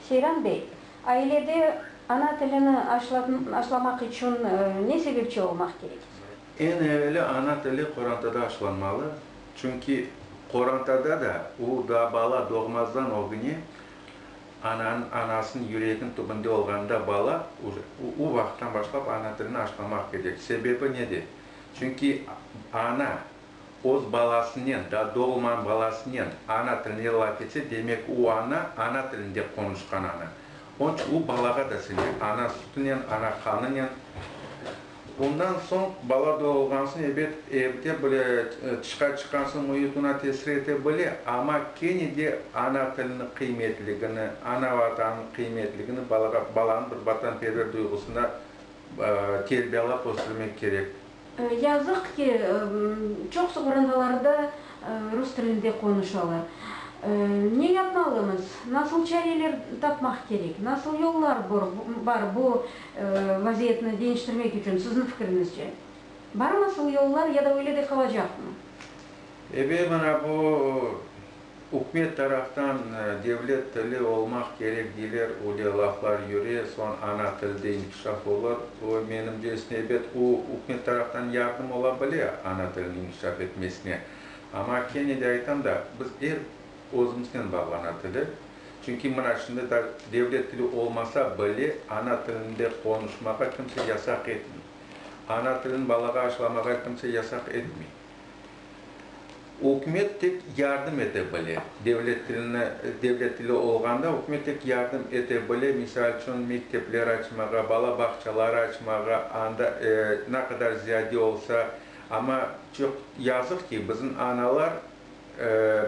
Seyran bey, ailede ana tilini aşlamaq içün ne sebepçi olmaq kerek? Eñ eveli ana tili qorantada aşlanmalı, çünki qorantada da u daa bala doğmazdan ögüne anasınıñ yüreginiñ tübünde olğanda bala u vaqıttan başlap ana tilini aşlamaq kerek. Sebebi nede? Çünki ana Öz balasınen, daa doğulmağan balasınen ana tilinde laf etse, demek, o ana, ana tilinde qonuşqan ana. Onıñ içün o balağa da siñe, ana sütünen, ana qanınen. Ondan soñ bala doğulğan soñ, ebet, evde böyle tışqa çıqqan soñ müit oña tesir ete bile, amma kene de ana tiliniñ qıymetligini, ana Vatanınıñ qıymetligini balağa, balanıñ bir vatanperver duyğusında terbiyalap östürmek kerek. Yazıq ki, çoq suvırındalarda rus tilinde qonuşalar. Ne yapmalımız? Nasıl çareler tapmaq kerek? Nasıl yollar bar bu vaziyetni deñiştirmek içün, sizniñ fikriñizce? Barmı asıl yollar ya da öyle de qalacaqmı? Ebe, mana bu Ükümet taraftan devlet tili olmaq kerek deyler, üle laflar yüre, soñ ana tilde inkişaf olur. Bu, menimce, isnebet. O, ükümet taraftan yardım ola bile ana tilini inkişaf etmesine. Amma kene de aytam da, biz er özümiznen bağlana tili. Çünki mına şimdi da devlet tili olmasa bile ana tilinde qonuşmağa kimse yasaq etmey. Ana tilini balağa aşılamağa kimse yasaq etmey. Ükümet tek yardım ete bile. Devlet tilini, devlet tili olğanda ükümet tek yardım ete bile, misal içün, mektepler açmağa, bala bağçaları açmağa, anda, e, ne qadar ziyade olsa, amma çoq yazıq ki, bizim analar, e,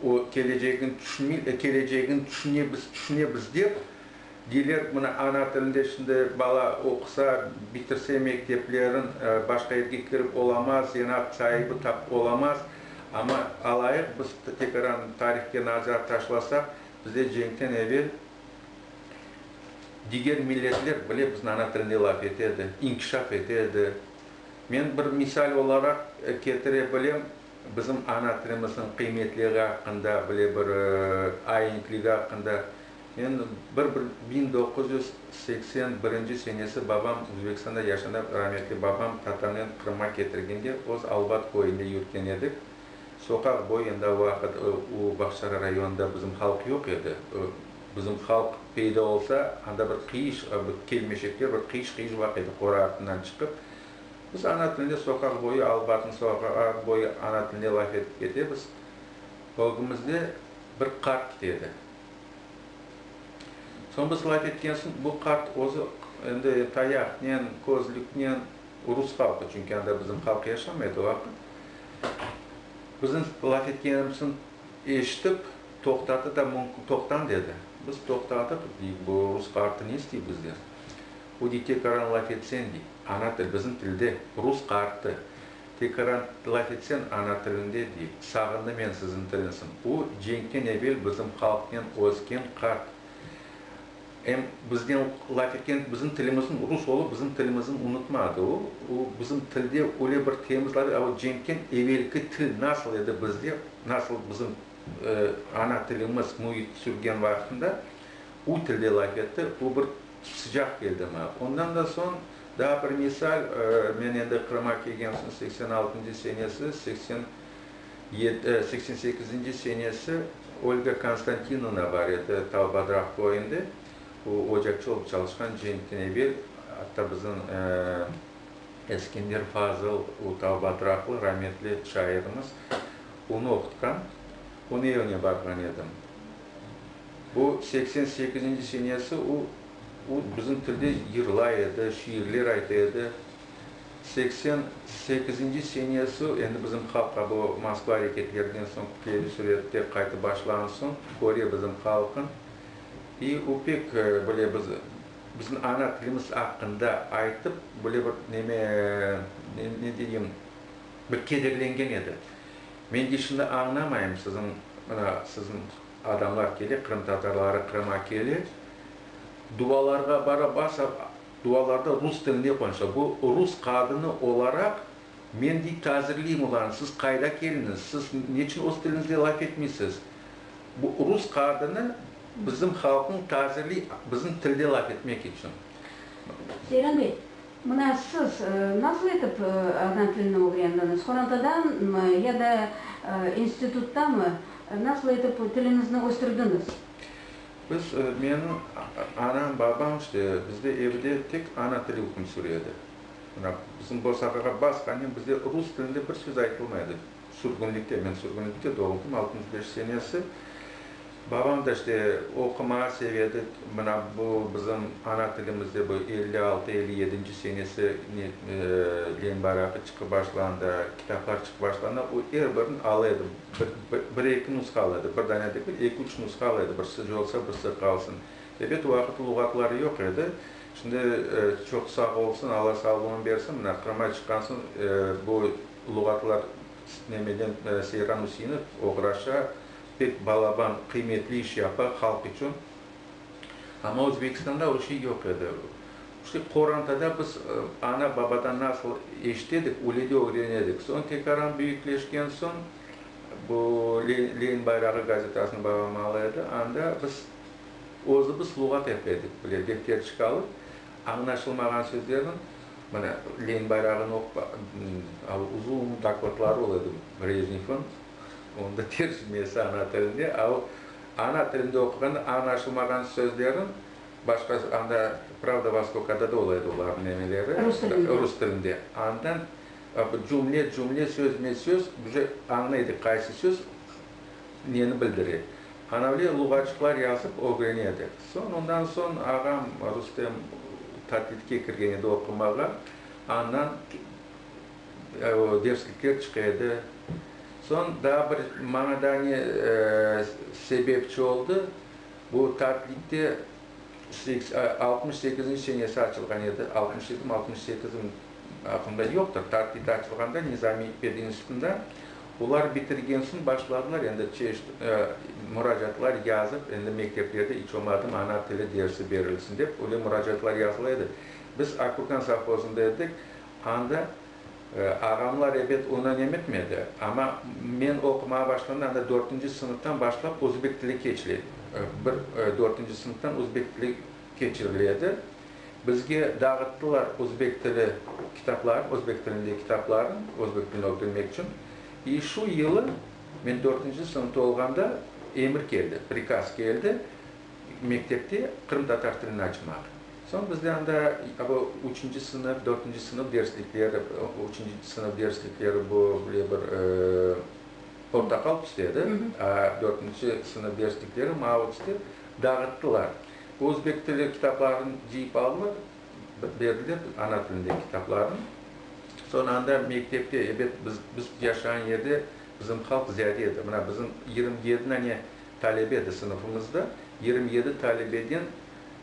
o kelecegin tüşünmey, kelecegin tüşüne biz, tüşüne biz dep, Deyler, mına, ana tilinde şimdi bala oqusa, bitirse mekteplerin, başqa yerge kirip olamaz, zenaat saibi tapıp olamaz. Amma alayıq, biz tekaran tarihke nazar taşlasaq, bizde cenkten evel diger milletler bile bizniñ ana tilinde laf ete edi, inkişaf ete edi. Men bir misal olaraq ketire bilem, bizim ana tilimizniñ qıymetliği aqqında, bile bir aientligi aqqında Endi bir biñ doquz yüz seksen birinci senesi babam Uzbekistanda yaşanıp, rametli babam tatamnen Qırımğa ketirgende öz Albat köyünde yürtken edik. Soqaq boyunda o vaqıt u Bağçara rayonında bizim halq yoq edi. Bizim halq peyda olsa, anda bir qıyış, bir kelmeşekler bir qıyış-qıyış baq edi, qora artından çıqıp. Biz ana tilinde soqaq boyu, Albatnıñ soqağı boyu ana tilinde laf etip ketemiz. Ögümizde bir qart kite edi. Soñ biz laf etken soñ, bu qart özü endi tayaqnen, közlüknen, rus halqı, çünki anda bizim halq yaşamaydı o vaqıt, bizim laf etkenimiz soñ eşitip, toqtadı da, toqtañ dedi. Biz toqtadıq, dedik, bu rus qartı ne istey bizden? O dey, tekaran laf etseñ, dey, ana til, bizim tilde, rus qartı. Tekaran laf etsen ana tilinde diy, sağındı men sizin tilinsin. U cenkten evel bizim halqnen özken qart. Em biznen laf etken bizim tilimizin rus olıp bizim tilimizin unutmadı u. U bizim tilde öyle bir temiz laf, a o cenkten evelki til nasıl edi bizde, nasıl bizim ana tilimiz müit sürgen vaqtında u tilde laf etti. U bir. Sıcaq keldimi? Ondan da soñ daa bir misal, men endi Qırıma kelgen soñ seksen altıncı senesi, seksen yedi, seksen sekizinci senesi Olga Konstantinovna bar edi, Talbadraq köyünde, o ocakçı olıp çalışqan cenkten evel, atta bizim Eskender Fazıl, o Talbadraqlı rametli şairimiz, onı oqutqan, onı evine barğan edim. O, seksen sekizinci senesi, o, o bizim tilde yırlay edi, şiirler ayta edi. Seksen sekizinci senesi, endi bizim halqqa bu Moskva areketlerinden soñ keli sürette qaytıp başlağan soñ, köre bizim halqın. İ o pek böyle biz, bizim ana tilimiz aqqında aytıp, böyle bir neme, ne, ne deyim, bir kederlengen edi. Men de şimdi añlamayım, siziñ, mına, siziñ adamlar kele, qırımtatarları Qırıma kele, duvalarğa bara, basa, duvalarda rus tilinde qonuşa. Bu rus qadını olaraq, men dey tazirleyim olarnı, siz qayda keldiñiz, siz neçün öz tiliñizde laf etmeysiz? Bu rus qadını bizim halqnı tazirley, bizim tilde laf etmek içün. Seyran bey, Mına siz nasıl etip ana tilini ögrendiñiz? Qorantadanmı ya da instituttamı? Nasıl etip tiliñizni östürdiñiz? Biz, menim anam, babam işte bizde evde tek ana tili hüküm süredi. Mına bizim bosaqağa basqanen bizde rus tilinde bir söz aytılmay edi. Sürgünlikte, men sürgünlikte doğuldım, altmış beş senesi. Babam da işte oqumağa sev edi. Mına bu bizim ana tilimizde bu elli altı, elli yedinci senesi ne len baraqı çıqıp başlanda, kitaplar çıqıp başlanda, o er birini ala edi. Bir eki nusqa ala edi, bir dane degil, eki üç nusqa ala edi, birsi yolsa, birsi qalsın. Ebet, o vaqıt luğatlar yoq edi. Şimdi çoq sağ olsun, Alla sağlığını bersin, mına Qırıma çıqqan soñ bu luğatlar nemeden Seyran Üseinov oğraşa, pek balaban, qıymetli iş yapa halq içün. Amma Özbekistanda o şey yoq edi. İşte qorantada biz ana babadan nasıl eşit edik, öyle de öğren edik. Soñ tekaran büyükleşken soñ bu Lenin bayrağı gazetasını babam ala edi, anda biz, Özümiz luğat epedik bile defter çıqalıp, añlaşılmağan sözlerniñ, mine, Lenin bayrağını oqupa, al, uzun dokladları ol edi Brejnevniñ, onıñ da tercimesi ana tilinde, al, ana tilinde oquğanda añlaşılmağan sözlerin başqa, anda Pravda Vostokada da ol edi olarnıñ nemeleri, Rus tilinde. rus tilinde, andan, cümle-cümle, sözme-söz, bize añlaydık qaysı söz neni bildire. Anavler luğatçıqlar yazıp ögrene edik. Soñ, ondan soñ ağam Rustem tatitke kirgen edi oqumağa, andan derslikler çıqa edi. Soñ daa bir maña daa ne sebepçi oldı, bu tatitde altmış sekizinci senesi açılğan edi, altmış yedimi, altmış sekizim, aqlımda yoqtır, tatit açılğanda Nizamiy pedinstitutında Olar bitirgen soñ başladılar endi çeşit muracaatlar yazıp, endi mekteplerde iç olmadım ana tili dersi berilsin dep, öyle muracaatlar yazıla edi. Biz Akburkan sovhozında edik, anda ağamlar ebet onan emetmedi, amma men oqumağa başlamda anda dörtünci sınıftan başlap özbek tili keçley, bir dörtünci sınıftan özbek tili keçiriledi. Bizge dağıttılar özbek tili kitaplarnı, özbek tilinde kitaplarnı, özbek tilini ögrenmek içün. İ şu yılı men dörtünci sınıfta olğanda emir keldi, prikaz keldi, mektepte qırımtatar tilini açmaq. Soñ bizde anda bu üçünci sınıf, dörtünci sınıf derslikleri, üçünci sınıf derslikleri bu böyle bir portaqal tüstedi, a dörtünci sınıf derslikleri mavı tüste dağıttılar. Özbek tili kitaplarını cıyıp almır, berdiler ana tilinde kitaplarını. Soñra anda mektepte, ebet, biz, biz yaşağan yerde bizim halq ziyade edi. Mına, bizim yigirmi yedi dane talebe edi sınıfımızda. Yigirmi yedi talebeden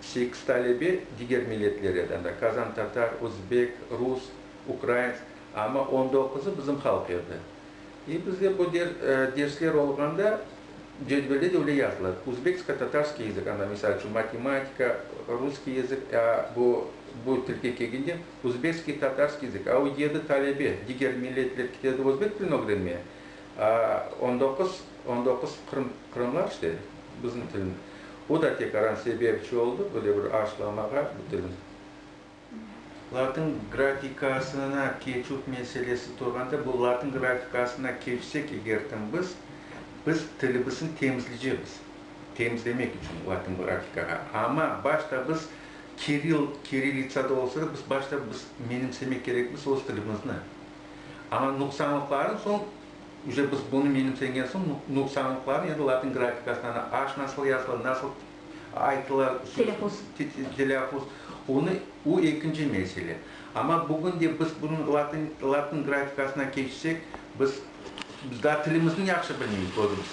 sekiz talebe diger milletler edi. Anda kazan tatar, özbek, rus, ukrainsk. Amma on doquzı bizim halq edi. E, bizde bu dersler olğanda cedvelde de öyle yazıla, uzbeksko-tatarskiy yazık, ana, misal içün, matematika, russkiy yazık, a bu, bu tilge kelgende, uzbekskiy-tatarskiy yazık, a o yedi talebe, diger milletler ketedi özbek tilini ögrenmeye, a on doquz, on doquz qırım, qırımlar işte bizim tilin, o da tek aran sebepçi oldı böyle bir aşlamağa bu tilin. Latın grafikasına keçüv meselesi turğanda, bu latın grafikasına keçsek eger tam biz, biz tilimizni temizleycekmiz, temizlemek içün latın grafikağa. Amma başta biz kiril, kirillitsada olsa da, biz başta biz menimsemek kerekmiz öz tilimizni. Amma nuqsanlıqlarını soñ, üce biz bunı menimsegen soñ, nuqsanlıqlarını endi latın grafikasına, aş nasıl yazıla, nasıl Ayttılar, Telâfuz. telâfuz. Onı, o ekinci mesele. Amma bugün de biz bunıñ latın, latın grafikasına keçsek, biz, biz daa tilimizniñ yahşı bilmeymiz özümiz.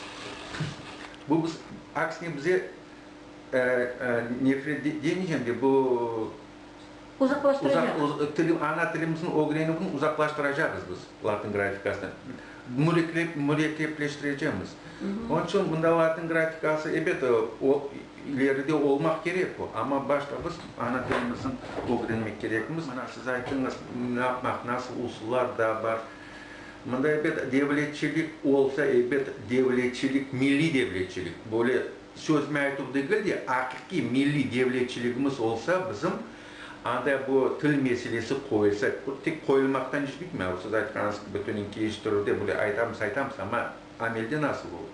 Bu biz, aksine bize, e, e, nefret demeycem de, bu, uzaqlaştıracaq. Uzaq, ana tilimizin ögrenüvni uzaqlaştıracağız biz, latın grafikasını, mürekkepleştirecemiz. Onıñ içün mında latın grafikası, elbet, ileride olmaq kerek o, amma başta biz ana tilimizin ögrenmek kerekmiz. Mana siz aytıñız, ne yapmaq, nasıl usullar da bar. Mında, elbet, devletçilik olsa, elbet, devletçilik, milliy devletçilik, böyle, Sözüme aytuv degil de, aqiqiy milliy devletçiligimiz olsa bizim, anda bu til meselesi qoyulsa, bu tek qoyulmaqtan iş bitmey, o siz aytqanıñız kibi bütünün keliştirüvde böyle aytamız, aytamız, amma amelde nasıl olur?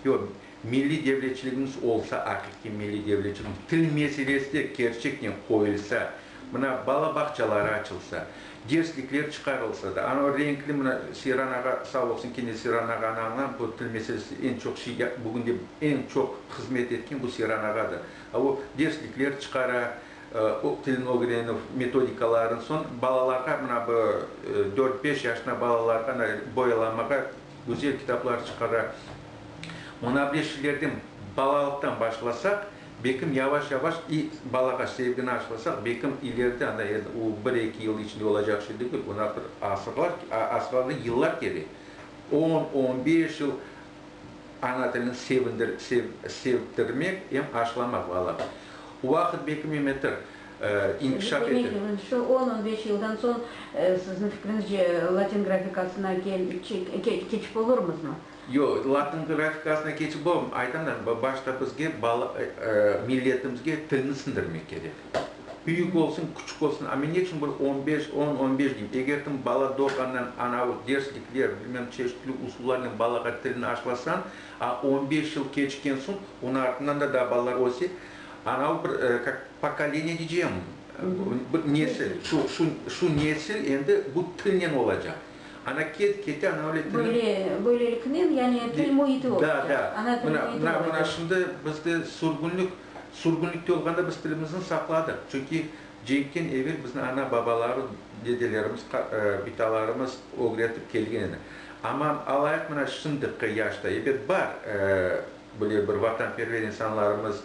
Yoq, milliy devletçiligimiz olsa, aqiqiy milliy devletçiligimiz, til meselesi de kerçeknen qoyulsa, Mına, bala bağçaları açılsa, derslikler çıqarılsa da, anau renkli, mına, Seyran ağa sağ olsun, kene Seyran ağanı añlam, bu til meselesinde eñ çoq şey, bugünde eñ çoq hızmet etken bu Seyran ağadır. A o derslikler çıqara, tilni ögrenüv metodikalarını, soñ balalarğa, mına, bu dört-beş yaşına balalarğa ana boyalamağa güzel kitaplar çıqara. Munavreşşilerden balalıqtan başlasaq, Belkim yavaş-yavaş i balağa sevgini aşlasaq, belkim ileride ana ed u bir-eki yıl içinde olacaq şey degil, buna axır asırlar a asırlarda yıllar kerek. On, on beş yıl ana tilini sevindir sev sevdirmek em aşlamaq balağa. O vaqıt belkim em etir e inkişaf ete. Demek, şu on, on beş yıldan soñ, sizniñ fikrinizce, latin grafikasına kel çe ke keçip olurmızmı? Yoq, latın grafikasına keçip olmay. Aytam da, başta bizge milletimizge tilni siñdirmek kerek. Büyük olsun, küçük olsun, amma ne içün bir on beş, on, on beş deymiz? Egertim bala doğğandan anavı derslikler, bilmem, çeşitli usullarnen balağa tilni aşılasañ, a on beş yıl keçken soñ, onı artından da daa balalar öse, anavı bir, kak, pokoleniye deycem, bir nesil, şu, şu, şu nesil endi bu tilnen olacaq. Ana ket, kete, ana öyle tili. Böyle, böyleliknen, yani til müiti oldı. Da, da. Ana til müiti oldı. Mına, mına şimdi bizde sürgünlik, sürgünlikte olğanda biz tilimizni saqladıq. Çünki cenkten evel bizni ana, babalar, dedelerimiz, bitalarımız ögretip kelgen edi. Amma alayıq mına şimdiki yaşta, elbet, bar böyle bir vatanperver insanlarımız,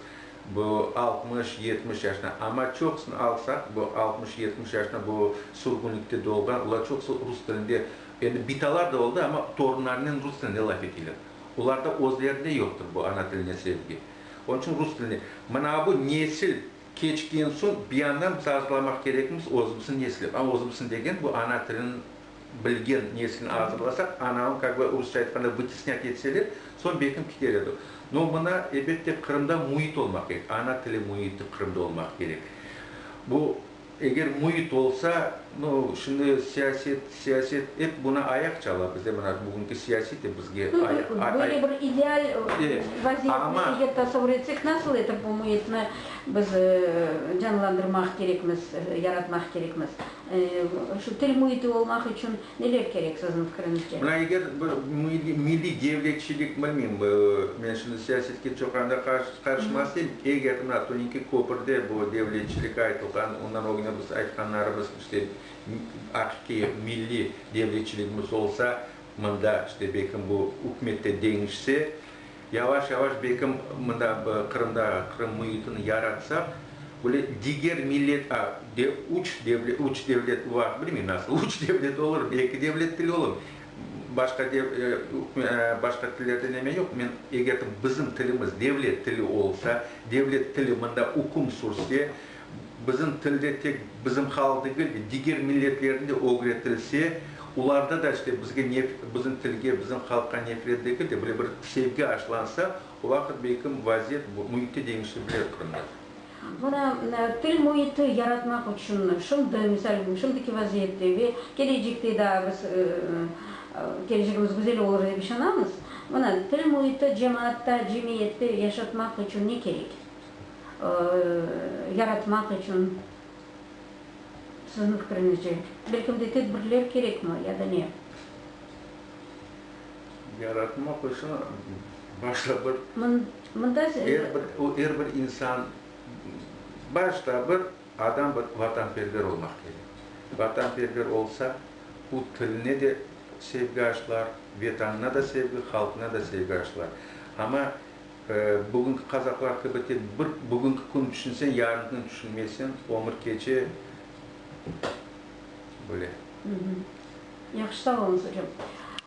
Bu altmış, yetmiş yaşına, amma çoqusını alsaq, bu altmış, yetmiş yaşına bu sürgünlikte doğğan, olar çoqusı rus tilinde, endi bitalar da oldı, amma torunlarınen rus tilinde laf eteyler. Olarda özlerinde yoqtır bu ana tiline sevgi. Onıñ içün rus tilinde. Mına bu nesil keçken soñ bir yandan biz arzulamaq kerekmiz özümüzniñ neslep. Özümüzniñ degen bu ana tilin bilgen nesini azırlasaq, anavın, kak be, rusça aytqanda, vıtisnât etseler, soñ belkim kiter edi. No, mına, ebette, Qırımda müit olmaq kerek, ana tili müiti Qırımda olmaq kerek. Bu, eger müit olsa, no, şimdi siyaset, siyaset, ep bunı ayaq çala bizde, mına, bugünki siyasiy de bizge ay, ay, ay. Böyle bir ideal vaziyetni eger tasavur etsek, nasıl etip bu müitni biz canlandırmaq kerekmiz, yaratmaq kerekmiz? Şu til müiti olmaq içün neler kerek, siziñ fikiriñizce? Mına eger bir milliy devletçilik, bilmeyim, men şimdi siyasetke çoq anda qarışmaz edim, eger mına Turinki köpürde bu devletçilik aytılğan, ondan ögüne biz aytqanlarımız, işte, aqiqiy milliy devletçiligimiz olsa, mında, işte, belkim bu ükümet te deñişse, Yavaş-yavaş belkim mında Qırımda, Qırım müitini yaratsaq, böyle diger millet, a, de, üç devlet, üç devlet var, bilmeyim nasıl üç devlet olur, belki devlet tili olur, başqa de, e, e, başqa tillerde neme yoq, men eger de bizim tilimiz devlet tili olsa, devlet tili mında üküm sürse, Bizim tilde tek bizim halq degil de, diger milletlerniñ de ögretilse, olarda da işte bizge nef, bizim tilge, bizim halqqa nefret degil de, böyle bir sevgi aşlansa, o vaqıt belkim vaziyet, bu müit te deñişebilir Qırımda. Mına, til müiti yaratmaq içün şimdi, misal, şimdiki vaziyette ve kelecekte daa biz, kelecegimiz güzel olur dep işanamız. Mına, til müiti cemaatta, cemiyette yaşatmaq içün ne kerek? yaratmaq içün, siziñ fikriñizce, bir kimge tedbirler kerekmi ya da ne? Yaratmaq içün başta bir, er bir, er bir insan, başta bir adam bir vatanperver olmaq kerek. Vatanperver olsa, o tiline de sevgi aşılar, Vetanına da sevgi, halqına da sevgi aşılar. Amma Bugünki qazaqlar kibi tek bir bugünki kün tüşünseñ, yarınkini tüşünmeyseñ, ömür keçe böyle. Yahşı, sağ olunız, ocam.